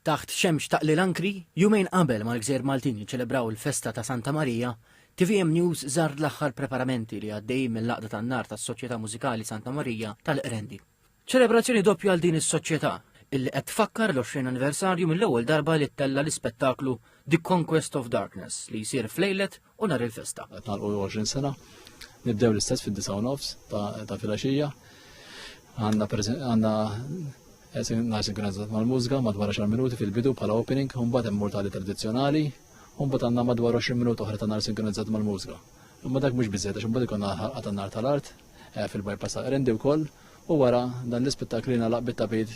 Taħt xemx taqlil ankri, jumejn qabel ma l-gżejjer Maltin jiċċelebraw il-festa ta' Santa Marija, tvm News żar l-aħħar preparamenti li għaddejjin mill-Għaqda tan-Nar tas-Soċjetà Mużikali Santa Marija tal-Qrendi. Ċelebrazzjoni doppja għal din is-soċjetà, illi qed tfakkar l-20 anniversarju mill-ewwel darba li ttella' l-ispettaklu The Conquest of Darkness li jsir f'lejlet u nhar il-festa. Qed nagħlqu 20 sena, nibdew l-istess fid-disa u nofs ta' filgħaxija. Għandna għandna nhar sinkronizzat mal-mużika madwar 10 minuti fil-bidu bħala opening, u mbagħad hemm mortali tradizzjonali, u mbagħad għandna madwar 20 minuti oħra ta' nhar sinkronizzat mal-mużika. Imma dak mhux biżejjed għax imbagħad ikun ħalqa tan-nar tal-art eh, fil-bypass ta' Rendi wkoll u wara dan l-ispettakli nalaq bit-tabid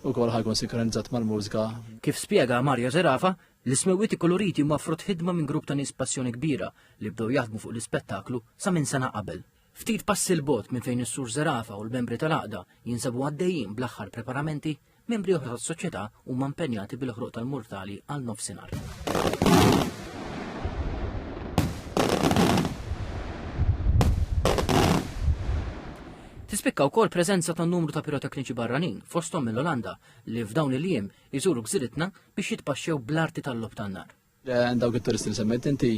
u kol ħajkun sinkronizzat mal-mużika. Kif spiega Mario Zerafa, L-ismewwiet ikkoloriti huma frott ħidma minn grupp ta' nies b'passjoni kbira li bdew jaħdmu fuq l-ispettaklu sa minn sena qabel. Ftit passi 'l bogħod minn fejn is-Sur Zerafa u l-membri tal-Għaqda jinsabu għaddejjin bl-aħħar preparamenti, membri oħra tas-Soċjetà huma impenjati bil-ħruq tal-murtali għal nofsinhar. Tispikka wkoll preżenza ta' numru ta' pirotekniċi barranin fosthom mill-Olanda li f'dawn il-jiem jżuru gżiritna biex jitpaxxew bl-arti tal-logħob tan-nar. Dawk it-turisti li semmejt inti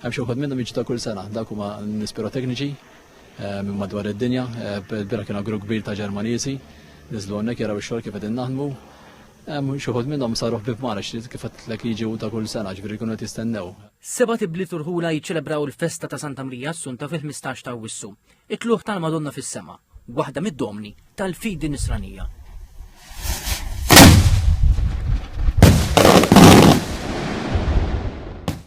hemm xi wħud minnhom jiġu ta' kull sena, dawk huma nies pirotekniċi eh, minn madwar id-dinja, eh, bira kien grupp kbir ta' Ġermaniżi, niżlu hawnhekk jaraw ix-xogħol kif qegħdin naħdmu, Xuħud minnom saruħ bib mara kif għatlek jiġi ta' kull sena ġviri kunu tistennew. Seba tibli turħula jiċċelebraw il-festa ta' Santa Marija Assunta fil-15 ta' wissu. It-tlugħ tal-Madonna fis-sema, waħda mid-domni tal-fidi Nisranija.